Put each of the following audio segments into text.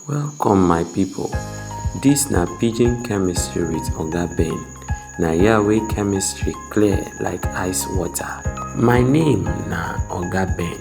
Welcome my people, dis na pidgin chemistry with oga Ben, na here wey chemistry clear like ice water. My name na oga Ben,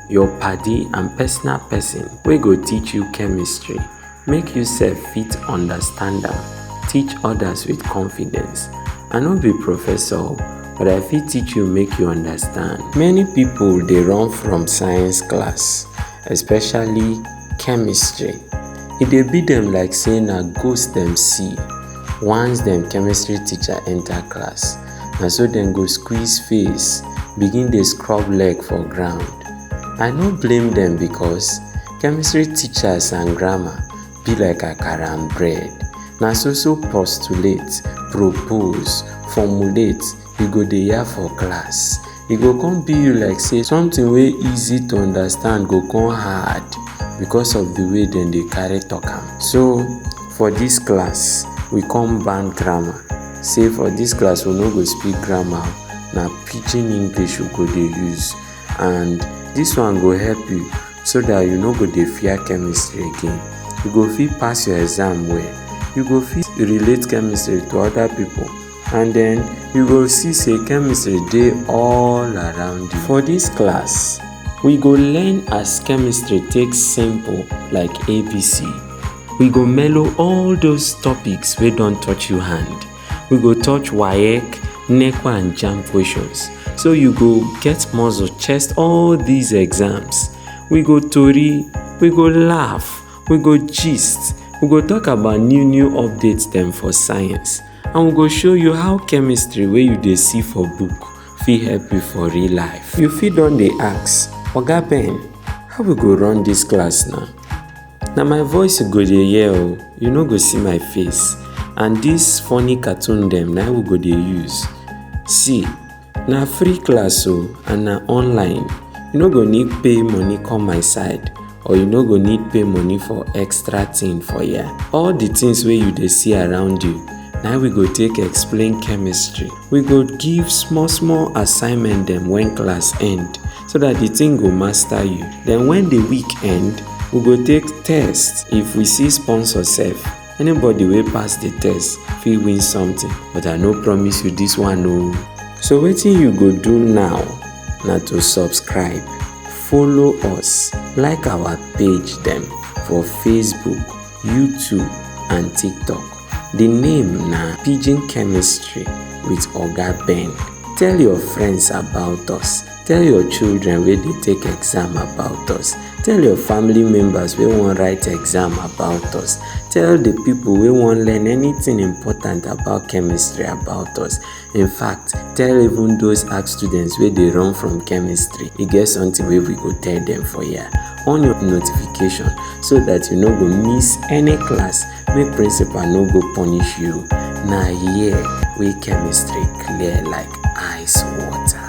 your paddy and personal person wey go teach you chemistry make you sef fit understand am, teach others with confidence. I no be professor o but I fit teach you make you understand. Many people dey run from science class. especially chemistry e dey be dem like say na ghost dem see once dem chemistry teacher enter class na so dem go squeeze face begin dey scrub leg for ground i no blame dem because chemistry teachers and grammar be like akara and bread na so so postulate propose formulate you go dey yarn for class e go come be you like say something wey easy to understand go come hard because of the way dem dey carry talk am so for this class we come ban grammar say for this class we no go speak grammar na pidgin english we go dey use and this one go help you so that you no go dey fear chemistry again you go fit pass your exam well you go fit relate chemistry to other people and then you go see say chemistry dey all around you for this class we go learn as chemistry take simple like abc we go mellow all those topics wey don touch you hand we go touch waec neco and jam questions so you go get muscle chest all these exams we go tori we go laugh we go gist we go talk about new new updates dem for science and we go show you how chemistry wey you dey see for book fit help you for real life. You fit don dey ask, Oga Ben, how we go run dis class na? Na my voice you go dey hear o, you no go see my face and dis funny cartoon dem na we go dey use. See! na free class o and na online you no go need pay money come my side or you no go need pay money for extra thing for here all the things wey you dey see around you na we go take explain chemistry we go give small small assignment dem when class end so that the thing go master you then when the week end we go take test if we see sponsor sef Anybody wey pass the test fit win something but I no promise you this one o. So wetin you go do now na to subscribe, follow us, like our page dem for Facebook, YouTube and TikTok. The name na Pidgin Chemistry with Oga Ben. Tell your friends about us tell your children wey dey take exam about us tell your family members wey wan write exam about us tell the people wey wan learn anything important about chemistry about us in fact tell even those art students wey dey run from chemistry e get something wey we go tell them for here on your notification so that you no go miss any class make principal no go punish you na here wey chemistry clear like ice water.